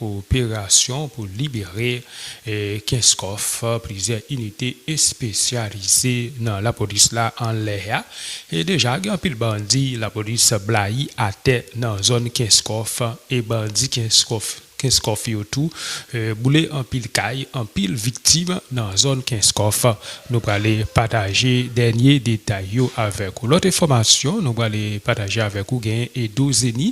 Operasyon pou libere Kenskòf, plizyè inite espesyalize nan lapolis la anlè a. Deja gen anpil bandi lapolis blayi atè nan zòn Kenskòf e bandi Kenskòf yo tou boule anpil kay, anpil viktim nan zòn Kenskòf. Nou prale pataje dènye detay yo avèk ou. Lòt enfòmasyon nou prale pataje avèk ou genyen Edo Zenny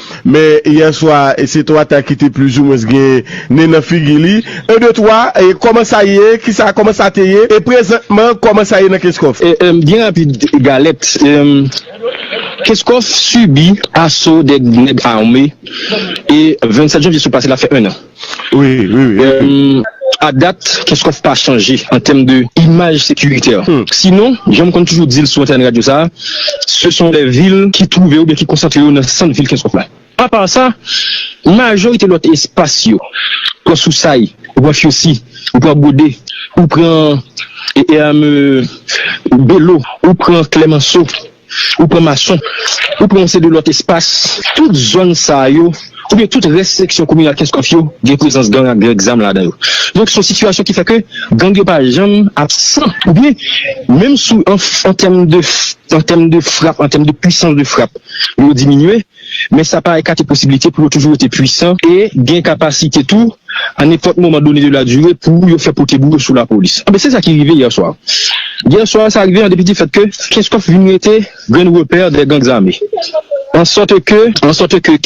Men yè swa se to ata ki te plis ou mwens gen nen nan figi li. 1 2 3 Kòman sa ye? Kisa Kòman sa te ye? E prezantman kòman sa ye nan Kenskòf? Byen rapid Galèt Kenskòf sibi aso 2 nèg ame e 27 janvye sot pase la fè 1 an. A dat, Kenskòf pa chanje an tèm de imaj sekiritè. Sinon, jan m konn toujou di l sou antèn radyo sa a, se son lè vil ki twouve oubyen ki konsantre yo nan sant vil Kenskòf la. Apa sa, majorite lòt espas yo, ou pran Sousay, ou pran Fyosi, ou pran Gode, ou pran Belo, ou pran Klèmanso, ou pran Mason, ou pran yon seri de lòt espas, tout zòn sa yo oubyen tout rès seksyon kominal Kenskòf yo gen prezans gang ak grèg zam ladan yo. Donk se yon sitiyasyon ki fè ke gang yo pa janm absan oubyen menm sou an tèm de an tèm de frap, an tèm de pwisans de frap yo diminye. men sa pa ekate posibilite pou yo toujou rete pwisan e gen kapasite tou a nenpòt moman done de la dire pou yo fè pote bouyo sou lapolis. Anben, se sa ki rive yè swa. Yè swa, sa rive an depi di fèt ke Kenskòf vin rete grenn repè dè gang zame. An sòte ke, an sòte ke,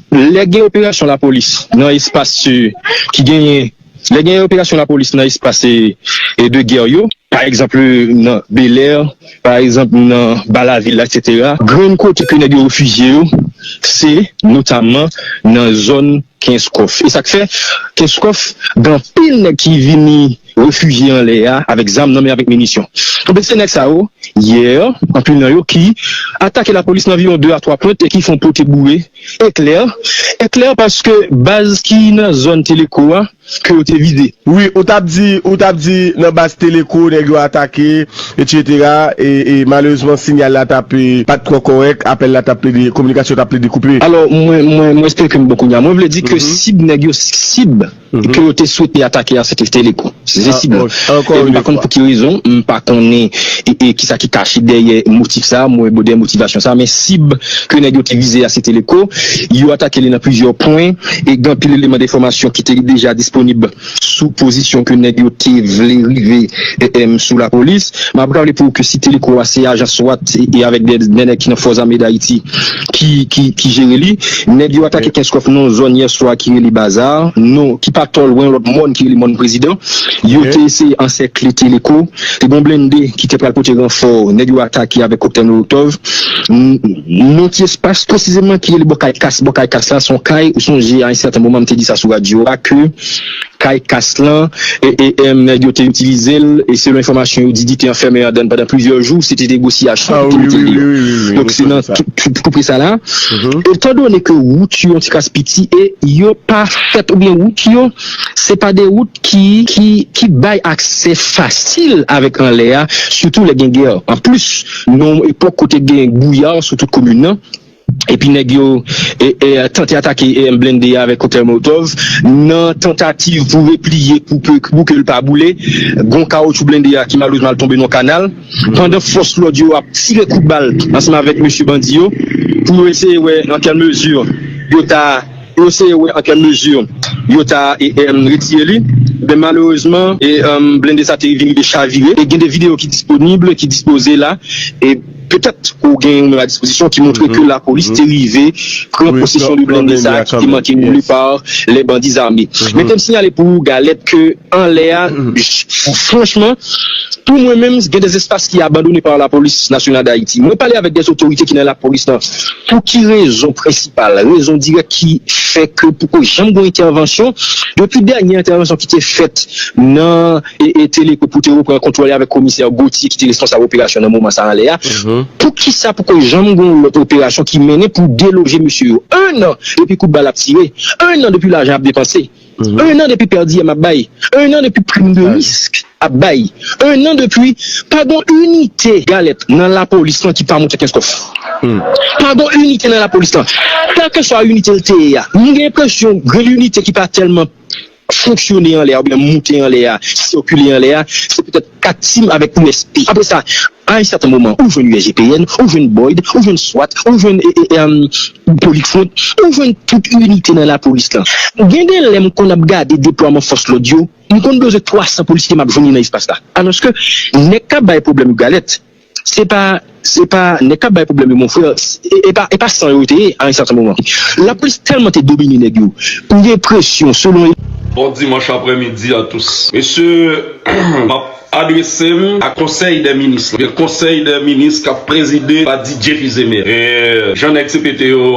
lè gen operasyon lapolis nan espas ki genyen. Lè gen operasyon lapolis nan espas de gè yo, pa egzanp nan Belè, pa egzanp nan Ba Lavil la eksetera, grenn kote ke nèg yo refijye yo se notamman nan zòn Kenskòf. E sa k fè Kenskòf gen anpil nèg ki vini refijye anlè a avèk zam nan men, avèk minisyon. Enben se nèg sa yo yè anpil nan yo ki atake lapolis nan anviwon de a twa pwent e ki fon pote boure. Eklè, eklè paske baz ki nan zòn Teleco a ke yo te vize. Wi, ou tap di, ou tap di nan baz Teleco nèg yo atake etc. E e malerezman sinyal la tap e pat twò kòrèk, apèl la tap plede, kominikasyon tap plede koupe. Alò mwen, mwen, mwen espere ke m bon kounya. Mwen vle di ke sib nèg yo, sib. ke yo te swete atake a se te Teleco, se te sib la. E m pa konn pou ki rezon, m pa konnen ki sa ki kache dèyè motif sa, mwen dèyè motivasyon sa, men sib ke nèg yo te vize a se Teleco, yo atake li nan plizyè pwen e gen anpil eleman de enfòmasyon ki te deja disponib sou pozisyon ke nèg yo te vle rive sou lapolis. M ap raple pou ou ke si Teleco a se ajan swat e avèk de nèg ki nan Fòzame Dayiti. ki jere li. Nèg yo atake Kenskòf nan yon zòn yè swa ki rele Bazar, non ki pa twò lwen yon lòt mòn ki rele Mòn Prezidan. Yo te eseye ansèkle Teleko. Te gen yon blende ki te pral pote ranfò, nèg yo atake avèk koktèl molotòv. Nan yon ti espas presizeman ki rele bò kay kas, bò kay kas la se yon kay ou sonje a yon sèten moman m te di sa sou radyo a ke. kay kas lan e nèg yo te itilize l e selon enfòmasyon yo di li te anfèmen andan pandan plizyè jou se te negosyasyon pou te mete l deyò donk se nan tou pre sa la etan done ke wout yo yon ti kras piti e yo pa fèt oubyen wout yo se pa de wout ki bay aksè fasil avèk anlè a sitou lè gen gè anplis nou nan yon epòk kote gen gouyad sou tout komin lan. epi nèg yo tante atake blende a avèk koktèl molotov, nan tantativ pou repliye pou ke l pa boule, gon kawotchou blende a ki malerezman al tonbe nan yon kanal, pandan fòs lòd yo ap tire kout bal ansanm avèk mesye bandi yo, pou yo eseye wè nan kèl mezi yo ta pou yo eseye wè nan kèl mezi yo ta retire li, men malerezman blende sa te rive chavire, e gen de videyo ki disponib, ki dispoze la. Petèt ou gen yon memo a dispozisyon ki montre ke lapolis te rive pran posesyon de blende sa a ki te manke boule pa lè bandi zame. Men te m siyale pou ou Galette ke anlè a, franchman, pou mwen menm gen des espaces ki abandonne par la police nationale d'Haïti. Mwen pale avèk des otorite ki nan lapolis lan pou ki rezon prensipal, rezon dirèk ki fè ke poko janm gen yon entèvansyon depi dènye entèvansyon ki te fèt nan. e Teleco pou te repran kontwòl li avèk komisè Gauthier ki te responsab operasyon nan moman sa anlè a, poukisa poko janm gen yon lòt operasyon ki mennen pou deloje mesye yo? 1 an depi kout bal ap tire, 1 an depi lajan ap depanse, 1 an depi pè diyèm ap bay, 1 an depi prim de risk ap bay, 1 an depi pa gen yon inite galèt nan lapolis lan ki pa monte Kenskòf. Pa gen yon inite nan lapolis lan. Kèlkeswa inite l te ye a, m gen enpresyon gen yon inite ki pa tèlman. fonksyone anlè a oubyen moute anlè a, sikile anlè a, se petèt kat sim avèk usb. Apre sa, a yon sèten moman, ou jwenn usgpn, ou jwenn boid, ou jwenn swat, ou jwenn politfront, ou jwenn tout inite nan lapolis lan. Gen de lè m konn ap gade deplwaman fòs lòd yo, m konn bezwen 300 polisye m ap jwenn yo nan espas la. Alòske, nèg k ap bay pwoblèm yo galèt. Se pa se pa nèg kap bay problèm yo mon frère e pa e pa san yo te ye a un certain moment la police tèlman te domine nèg yo ou gen presyon selon Bon dimanche après midi a tous. Mesye map adresem a konsèy dè minis lan. Gen konsèy dè minis kap prezide pa DJ Fizeme. E jan nèg CPT yo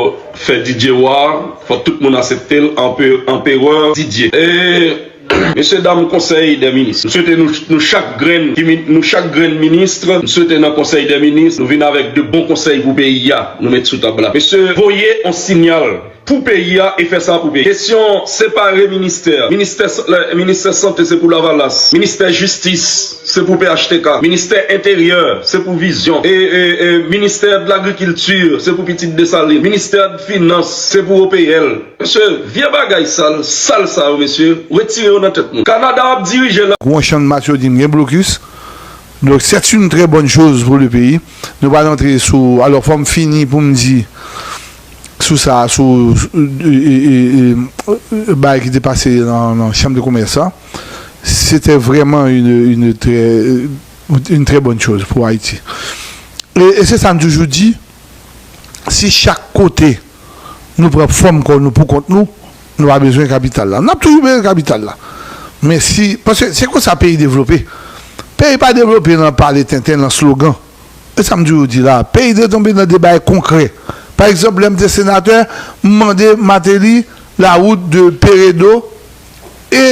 fè DJ wa, fòk tout moun aseptel anpe anperè DJ. E. Mesye dam konsèy dè minis, m swete nou chak grenn ki nou chak grenn ministre, m swete nan konsèy dè minis nou vin avèk de bon konsèy pou peyi a nou met sou tab la. Mesye voye on sinyal pou peyi a e fè sa pou peyi. Kesyon separe ministè, ministè ministè sante se pou lavalas, ministè jistis se pou phtk, ministè enteryè se pou vizyon, ministè dlagrikilti se pou pitit desalin, ministè dfinans se pou OPL. Mesye vye bagay sal sal sa yo mesye retire yo nan tèt nou Canada ap dirije la. Gwo channmas yo dim gen blokis donk c'est une très bonne chose pour le pays nou pral antre sou alors fòm fini poum di sou sa sou bagay ki te pase nan chambre de commerce la c'était vraiment une très une très bonne chose pour Haïti et c'est sa nou toujou di si chak kote nou pran fòm kò nou poukont nou, nou pa bezwen kapital la. N ap toujou bezwen kapital la, men si, paske se konsa peyi devlope. Peyi pa devlope nan pale tenten, nan slogan. E sa m toujou di la a, peyi dwe tonbe nan de bagay konkrè. Pa egzanp, lè m te senatè, m mande Mateli la wout de Peredo e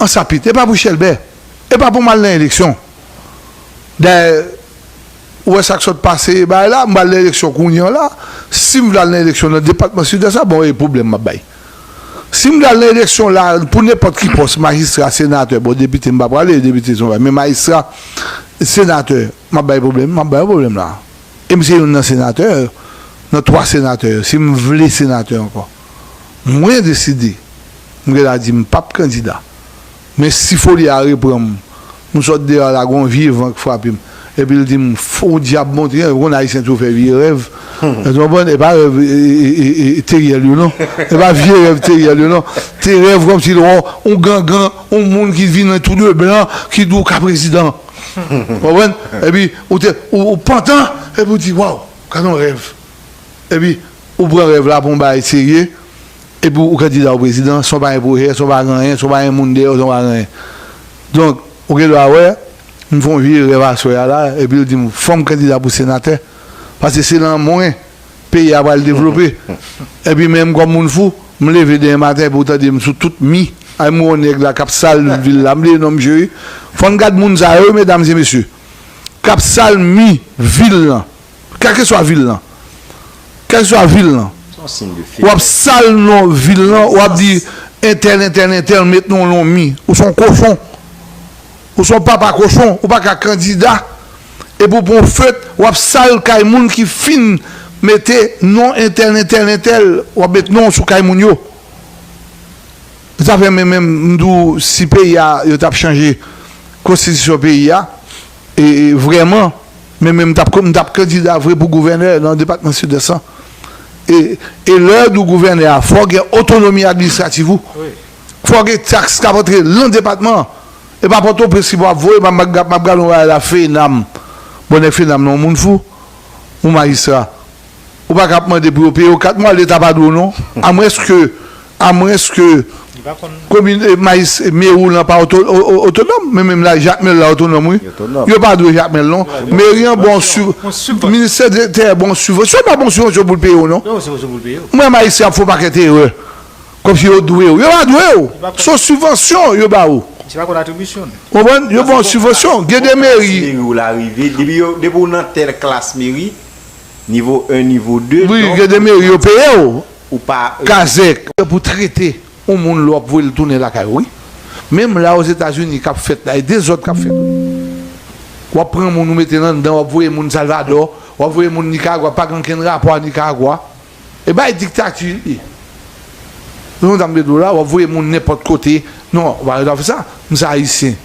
Ansapit. E pa pou chèlbè. E pa pou m al nan eleksyon. Dayè. Ou wè sak sot pase ebay la m pral nan eleksyon kounye la sim vle al nan eleksyon nan depatman sidès la bon e pwoblèm map bay sim vle al nan eleksyon la pou nenpòt ki pòs majistra senatè bon depite m pa prale depite son bagay men majistra senatè map bay pwoblèm map bay yon pwoblèm la e m se youn nan senatè yo nan 3 senatè yo sim vle senatè ankò mwen deside m gen dwa di m pap kandida Men si foli a repran m. M sot deyò la gon vye van k frape m epi l di m fon dyab montre an ou konn ayisyen toujou fè vye rèv èske w konprann e pa rèv Teriel yo non e pa vye rèv Teriel yo non se rèv kòmsi l wè w on gangan on moun ki vini tou de blan ki di w ka prezidan ou konprann epi ou te ou pantan epi w di waw gad on rèv epi ou pran rèv la pou on bagay serye. Epi ou kandida ou prezidan san w pa gen pwojè, san w pa gen anyen, san w pa gen moun dèyè w, san w pa gen anyen. Donk, ou gen dwa wè, m fè yon vye rèv aswè a la epi yo di m fò m kandida pou senatè paske se nan mwen peyi a pral devlope. Epi menm kòm moun fou, m leve demen maten epi ou tande m sou tout mi a m wè yon nèg la k ap sal vil la, m bliye non misye wi. Fò n gad moun sa yo wi medam e mesye k ap sal mi vil lan. Kèlkeswa vil lan. Kèlkeswa vil lan. Ou ap sal non vil lan, ou ap di entèl, entèl, entèl met non lan mi. Ou son kochon. Ou son papa kochon. Ou pa ka kandida epi ou pran yon feut ou ap sal kay moun ki fin mete non entèl, entèl, entèl. Ou ap met non sou kay moun yo. Se sa fè men menm m di w si peyi a yo t ap chanje konstitisyon peyi a. E vrèman, men menm m t ap m t ap kandida vre pou gouvènè nan depatman Sidès lan. E e lè w gouvènè a fò w gen otonomi administrativ ou. Fò w gen taks k ap antre lan depatman an. E pa Pòtoprens ki pou ap voye m ap m ap gade yon bagay la FENAM. Bon nèg FENAM lan yon moun fou? Yon majistra. Ou pa ka ap mande pou yo peye w 4 mwa leta pa dwe w non. Amwenske A mwens ke komin Mayis Mewou lan pa otonòm, men menm la Jakmèl la otonòm wi. Yo pa dwe Jakmèl non. Meri an ba w sibvansyon. Ministè de tè ba w sibvansyon. Yo pa ba w sibvansyon pou l peye w non. Mwen wè Ayisyen ap fè yon pakèt erè. Kòmsi yo dwe w. Yo pa dwe w. Se yon sibvansyon yo ba ou. Ou konprann? Yo ba w sibvansyon. Gen de meri. Klas meri w la rive. Depi w nan tèl klas meri, nivo 1, nivo 2. Wi, gen de meri yo peye w. ou pa Kazèk lè pou trete yon moun lè wap voye l tounen lakay ou wi menm la ozetazini kap fèt la e dezòd kap fèt wi wap pran moun ou mete l anndan wap voye moun salvadò wap voye moun nikaragwa pa gen ankenn rapò a nikaragwa e bay diktati li se konsa m te di w la wap voye moun nenpòt kote non ou pa gen dwa fè sa m se ayisyen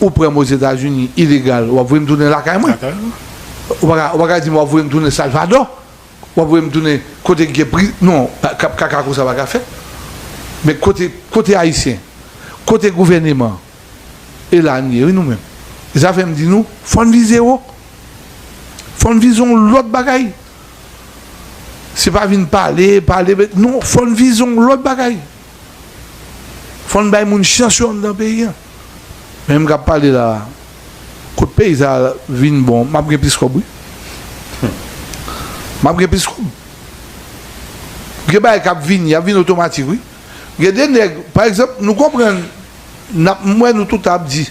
ou pran m ozetazini ilegal wap voye m tounen lakay mwen ou paka di m wap voye m tounen salvadò. Wap voye m tounen kote k gen pri non kap kaka konsa pa ka fèt men kote kote ayisyen kote gouvèneman e la n ye wi nou menm e sa fè m di nou fò n vize wo fò n vize yon lòt bagay se pa vin pale pale non fò n vize yon lòt bagay fò n bay moun chans yo anndan peyi an menm kap pale la. Kot peyi sa vin bon map gen plis kob wi humm map gen plis kob gen bagay kap vini yap vini otomatik wi gen de nèg pa egzanp nou konprann nap m wè nou tout ap di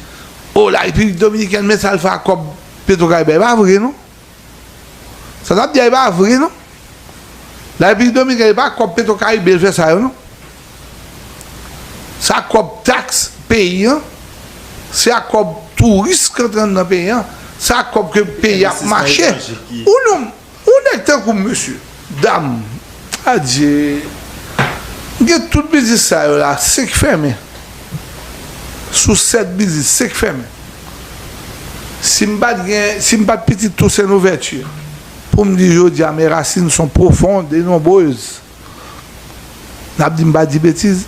oh la repiblik dominikèn men sa l fè ak kob petro karibe epa vre non. Sa nap di a e pa vre non. La République Dominicaine e pa kòb Petro Caribe l fè sa yo non. Se ak kòb tax peyi an, se ak kòb touris k antre anndan peyi an, se ak kòb ke peyi a ap mache. Ou nèg tankou m mesye. Dam. Adye. M gen tout biznis sa yo la 5 fèmen. Sou 7 biznis 5 fèmen. Si m pat gen, si m pat pitit Tousen Louvèti pou m di jodi a mes racines sont profondes et nombreuses. N ap di m pa di betiz.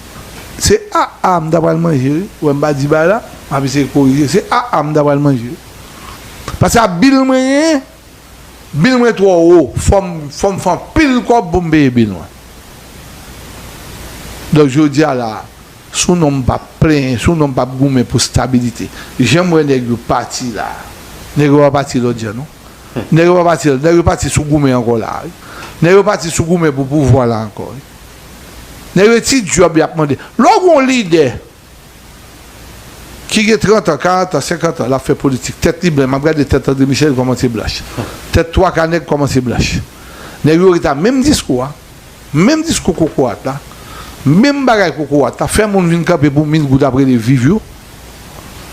Se a a m ta pral manje wi. Ou wè m pa di bay la. M ap eseye korije. Se a a m ta pral manje wi. Paske a bil mwen genyen. Bil mwen twò wo fòm fòm fè anpil kòb poum peye bil mwen donk jodia la sou non mpap plenyen sou non mpap goumen pou stabilite janm wè nèg yo pati la nèg yo pa pati lòt jan non nèg yo pa pati nèg yo pati sou goumen ankò la wi nèg yo pati sou goumen pou pouvwa la ankò wi nèg yo e ti dyòb yap mande lè w gon lidè Ki gen 30 an, 40 an, 50 an, l ap fè politik. Tèt li blan. M ap gade tèt André Michel, li kòmanse blanch. Tèt twaka nèg kòmanse blanch. Nèg yo ret a menm diskou a, menm diskou kokorat la, menm bagay kokorat la, fè moun vin kanpe pou mil goud ap rele viv yo.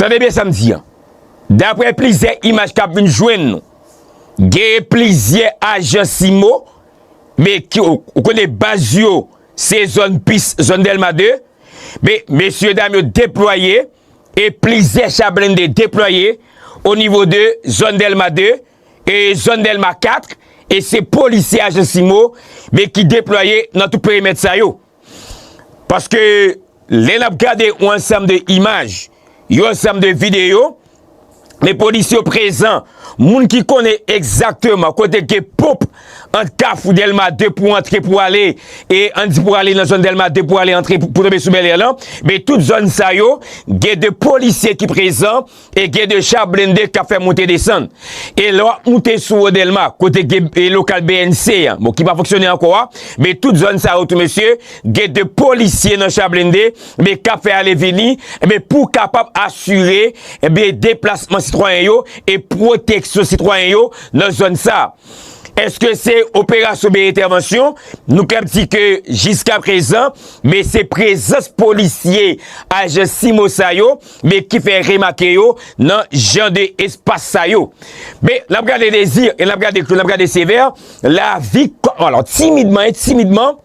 Tande byen sa m di an, daprè plizyè imaj k ap vin jwenn nou, genyen plizyè ajan CIMO, men ki, ou konnen baz yo se zòn pis, zòn Dèlma 2, men mesye dam yo deplwaye e plizyè cha blende deplwaye o nivo de zòn Dèlma 2 e zòn Dèlma 4 e se polisye ajan CIMO men ki deplwaye nan tout perimèt sa yo. Paske lè n ap gade yon ansanm de imaj, yon ansanm de videyo, men polisye yo prezan, moun ki konnen egzakteman kote gen ponp ant kafou Dèlma 2 pou antre pou ale, e an di pou ale nan zòn Dèlma 2 pou ale antre pou tonbe sou Bèlè lan, men tout zòn sa yo gen de polisye ki prezan. E gen de cha blende k ap fè moute desann. E lè w ap moute sou wo Dèlma, kote gen lokal bnc an, bon ki pa fonksyone ankò a, men tout zòn sa yo tou mesye, gen de polisye nan cha blende, men k ap fè ale vini, men pou kapab asire, men deplasman sitwayen yo, e pwoteksyon sitwayen yo nan zòn sa. Eske se operasyon oubyen entèvansyon, nou kab di ke jiska prezan, men se prezans polisye ajan CIMO sa yo, Men ki fè remake yo nan jan de espas sa yo. Men, n ap gade Désir e n ap gade Claude, n ap gade Sévère, lavi kòm, alò, timidman, timidman,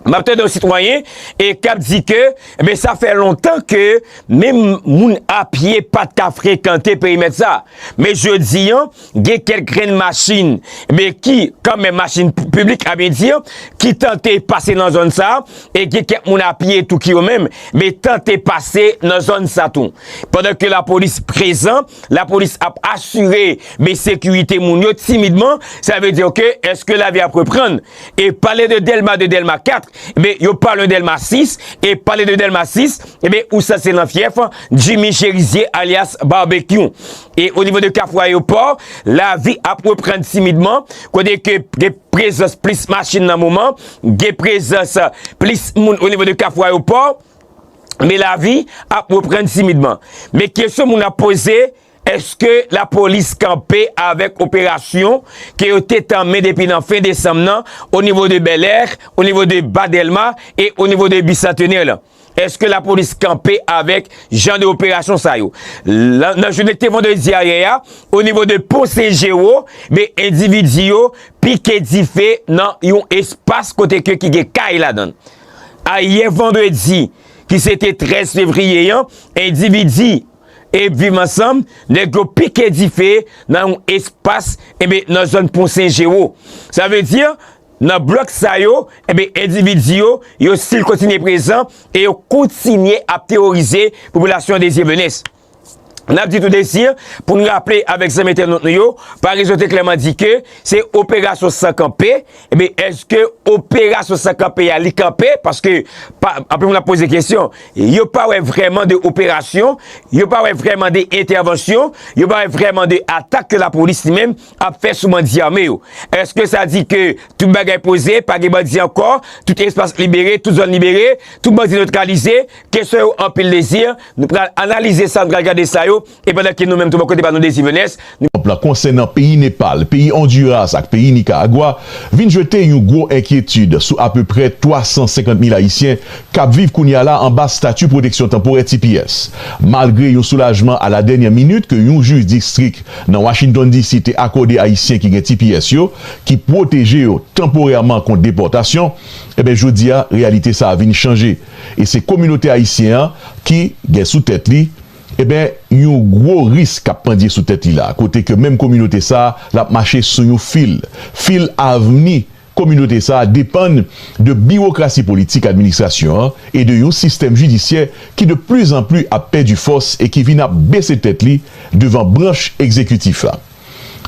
m ap tande yon sitwayen e k ap di ke, men sa fè lontan ke menm moun apye pa t ka frekante perimèt sa. Men jodi an. Gen kèk grenn machin be ki kan men machin piblik a byen di ki tante pase nan zòn sa e gen kèk moun a pye tou ki yo menm be tante pase nan zòn sa tou. Pandan ke la polis prezan, la polis ap asire be sekirite moun yo timidman, sa ve di ke eske la vi ap reprann. E pale de Delma 2, Delma 4, be yo pa lwen Delma 6, e pale de Delma 6, be ou sa se nan fyèf Jimmy Cherizier alyas Barbecue. E o nivo de Kafou Ayopò, lavi ap reprann timidman, kote ke gen prezans plis machin nan moman, gen prezans plis moun o nivo de Kafou Ayopò, men lavi ap reprann timidman. Men kesyon moun ap poze, eske lapolis kanpe avèk operasyon ke yo te tanmen depi nan fen desanm nan o nivo de Bèlè, o nivo de Ba Dèlma e o nivo de Bisantenè lan? Eske la polis kanpe avèk jan de operasyon sa yo? Nan jounen ki te vandredi ayè a, o nivo de pon Sen Jero, be endividi yo pike dife nan yon espas kote ke ki gen kay ladan l. Ayè vandredi ki se te 13 fevriye an, endividi e viv ansanm, nèg yo pike dife nan yon espas e be nan zòn pon Sen Jero. Sa vle di, Nan blòk sa yo, enben endividi yo, yo stil kontinye prezan e yo kontinye ap teworize popilasyon Desir Menes. N ap di tou Desir, pou n raple avèk zanmi entènot nou yo, Paraison te klèman di ke se operasyon san kanpe, enben èske operasyon san kanpe a li kanpe, paske pa, anpil moun ap poze kesyon, yo pa wè vrèman de operasyon, yo pa wè vrèman de entèvansyon, yo pa wè vrèman de atak ke lapolis li menm, ap fè sou bandi ame yo. Eske sa di ke tout bagay poze, pa gen bandi ankò, tout espas libere, tout zòn libere, tout bandi notralize? Kesyon yo anpil Dezi, nou pral analize sa, nou pral gade sa yo, e pandan ke nou menm tou bò kote pa nou Dezi Venès, nou. Anp lan konsènan peyi Nepal, peyi Onduras ak peyi Nikaragwa vin jete yon gwo enkyetid sou apeprè 350 mil Ayisyen k ap viv kounye a la anba stati pwoteksyon tanporè, tps. Malgre yon soulajman a la dènyè minit ke yon jij distrik nan Washington DC. te akòde Ayisyen ki gen tps yo, ki pwoteje yo tanporèman kont depòtasyon, enben jodi a reyalite sa a vin chanje e se kominote ayisyen an ki gen sou tèt li, enben yon gwo risk k ap pandye sou tèt li la a, kote ke menm kominote sa a l ap mache sou yon fil, fil avni. Kominote sa a depann de biwokrasi politik administrasyon an e de yon sistèm jidisyè ki de pli zan pli ap pèdi fòs e ki vin ap bese tèt li devan branch egzekitif la.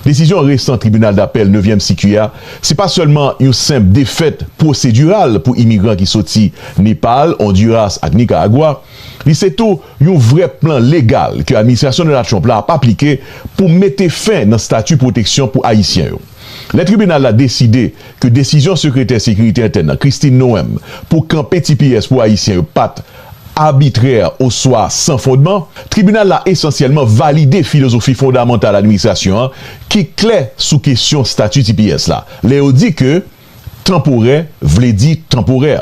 Desizyon resan Tribinal Dapèl Nevyèm Sikui a se pa sèlman yon senp defèt pwosediral pou imigran ki soti Nepal, Ondiras ak Nikaragwa, li se tou yon vrè plan legal ke administrasyon Donald Trump la ap aplike pou mete fen nan stati pwoteksyon pou Ayisyen yo. Lè tribinal la deside ke desizyon sekretè sekirite entèn nan, Kristi Noem, pou kanpe tps pou Ayisyen yo pa t abitrè oswa san fondman, tribinal la esansyèlman valide filozofi fondamantal administrasyon an ki klè sou kesyon stati tps la lè yo di ke Tanporè vle di tanporè.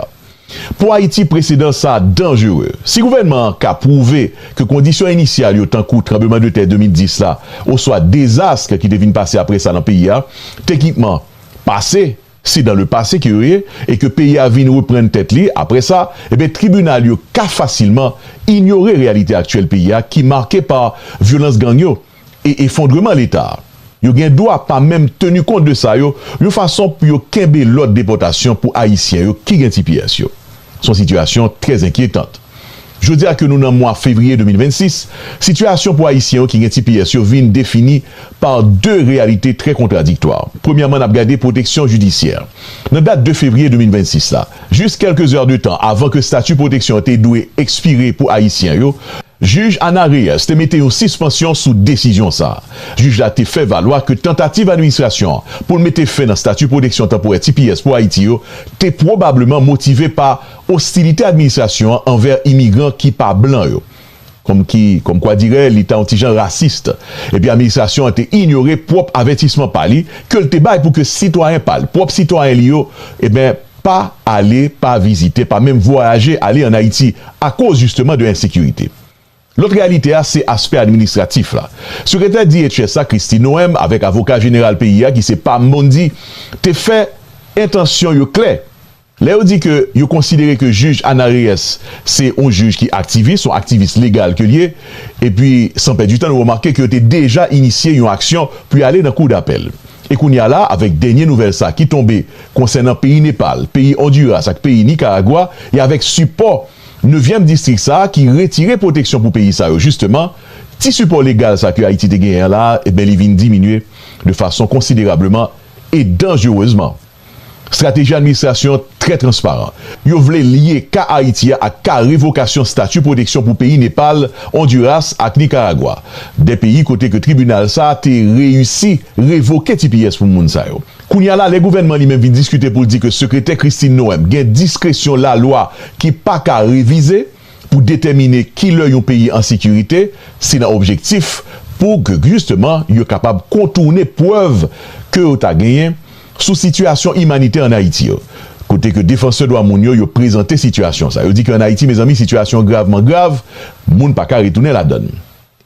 Pou Ayiti presedan sa a danjere. Si gouvènman an ka pwouve ke kondisyon inisyal yo tankou tranbleman de tè 2010 la oswa dezask ki te vin pase apre sa nan peyi a, teknikman, pase, se dan le pase ke yo ye e ke peyi a vin reprann tèt li apre sa, enben tribinal yo ka fasilman inyore reyalite aktyèl peyi a ki make pa vyolans gang yo e efondreman Leta a. Yo gen dwa pa menm teni kont de sa yo, yon fason pou yo kenbe lòd depòtasyon pou Ayisyen yo ki gen tps yo. Se yon sitiyasyon trè zenkyetant. Jodi a ke nou nan mwa fevriye 2026, sitiyasyon pou Ayisyen yo ki gen tps yo vin defini pa de reyalite trè kontradiktwa. Premyèman, n ap gade pwoteksyon jidisyè. Nan dat 2 fevriye 2026 la, jis kèlke zè de tan avan ke stati pwoteksyon an te dwe ekspire pou ayisyen yo, jij Ana Reyes te mete yon sispansyon sou desizyon sa a. Jij la te fè valwa ke tantativ administrasyon an pou l mete fen nan stati pwoteksyon tanporè tps pou Ayiti yo te pwobableman motive pa ostilite administrasyon an anvè imigran ki pa blan yo. kòmki, kòmkwadirè, li ta yon ti jan rasist, epi administrasyon an te inyore pwòp avètisman pa li, ke l te bay pou ke sitwayen pa l, pwòp sitwayen li yo, eben, pa ale, pa vizite, pa menm vwayaje ale an Ayiti, akoz jisteman de ensekirite. Lòt reyalite a, se aspè administratif la. Sekretè DHS la, Kristi Noem, avèk avoka jeneral peyi a, ki se Pam Bondi, te fè entansyon yo klè, Lè yo di ke yo konsidere ke jij Ana Reyes se yon jij ki aktivis, yon aktivis legal ke li ye, epi san pèdi tan nou remake ke yo te deja inisye yon aksyon pou y ale nan kou dapèl. E kounye a la, avèk dènye nouvèl sa ki tonbe konsènan peyi Nepal, peyi Onduras ak peyi Nikaragwa, e avèk sipò nevyèm distrik sa ki retire pwoteksyon pou peyi sa yo jisteman, ti sipò legal sa ke Ayiti te genyen an la, enben li vin diminye de fason konsiderableman e danjerezman. Strateji administrasyon an trè transparan. Yo vle lye ka Ayiti a ak ka revokasyon stati pwoteksyon pou peyi Nepal, Ondiras ak Nikaragwa, 2 peyi kote ke tribinal sa a te reyisi revoke tps pou moun sa yo. Kounye a la lè gouvènman li menm vin diskite pou l di ke Sekretè Christine Noem gen diskresyon lalwa ki pa ka revize, pou detèmine ki lè yon peyi an sekirite, se nan objektif pou k jisteman yo kapab kontourne prèv ke yo ta genyen sou sitiyasyon imanitè an Ayiti yo. Kote ke defansè dwa moun yo yo prezante sitiyasyon sa, yo di ke an Ayiti mezanmi sitiyasyon gravman grav, moun pa ka retounen ladann.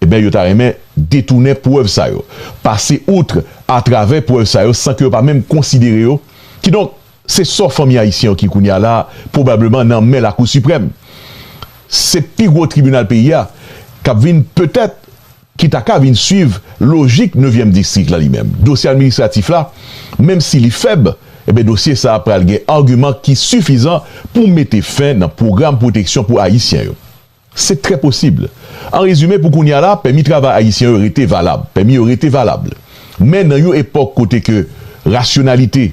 Ebyen yo ta renmen detounen prèv sa yo, pase outre atravè prèv sa yo san ke yo pa menm konsidere yo, kidonk se sò fanmi ayisyen yo ki kounye a la pwobableman nan men lakou siprèm. Se pi gwo tribinal peyi a kap vin petèt ki ta ka vin swiv lojik nevyèm distrik la li menm. Dosye administratif la menm si li fèb, ebyen dosye sa a pral gen agiman ki sifizan pou mete fen nan pwogram pwoteksyon pou ayisyen yo. Se trè posib. An rezime, pou kounye a la, pèmi travay ayisyen yo rete valab. Pèmi yo rete valab. Men nan yon epòk kote ke rasyonalite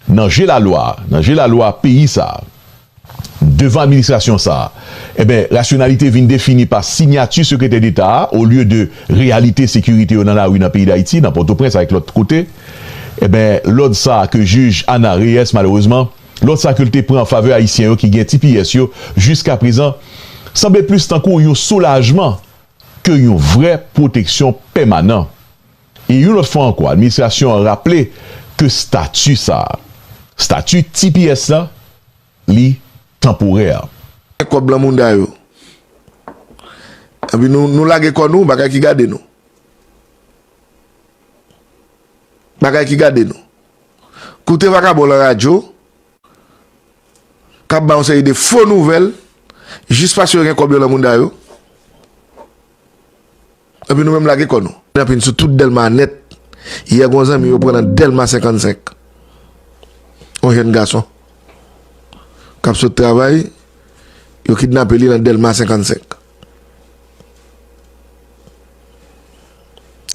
nan je lalwa, nan je lalwa peyi sa a, devan administrasyon sa a, enben, rasyonalite vin defini pa sinyati sekretè deta a olye de reyalite sekirite yo nan lari nan peyi Dayiti, nan Pòtoprens avèk lòt kote, enben, lòd sa a ke jij Ana Reyès malerezman. Lòd sa ke l te pran an favè Ayisyen yo ki gen tps yo jiskaprezan sanble plis tankou yon soulajman ke yon vrè pwoteksyon pèmanan. E yon lòt fwa ankò administrasyon an raple ke stati sa, stati tps la, li tanporè. Gen kob lan mounda yo. Epi nou nou lage kò nou bagay ki gade nou. Bagay ki gade nou. Koute vakabon lan radyo k ap bay yon seri de fo nouvèl jis paske yo gen kòb yo lan mouda yo, epi nou menm lage kò nou. N ap vin sou tout Dèlma nèt. Yè gen yon zanmi yo pran lan Dèlma 55. Yon jèn gason k ap sot travay, yo kidnape li lan Dèlma 55.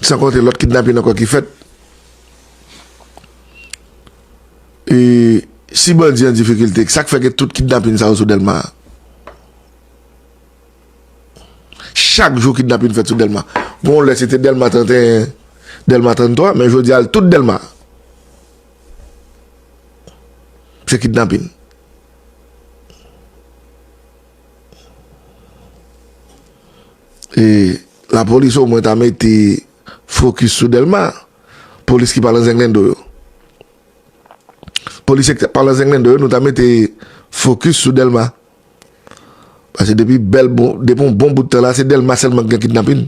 San konte lòt kidnapin ankò ki fèt. E si bandi an difikilte, sa k fè gen tout kidnapin sa yo sou Dèlma a? Chak jou kidnapin fèt sou Dèlma. Gon lè se te Dèlma 31, Dèlma 33, men jodi a l tout Dèlma. Se kidnapin. E la polis o mwen ta mete fokis sou Dèlma, polis ki pa lan zenglendo yo. Polisye ki pa lan zenglendo yo nou ta mete fokis sou Dèlma. Pase depi bèl bon, depi yon bon bout tan la se Dèlma sèlman ki gen kidnapin.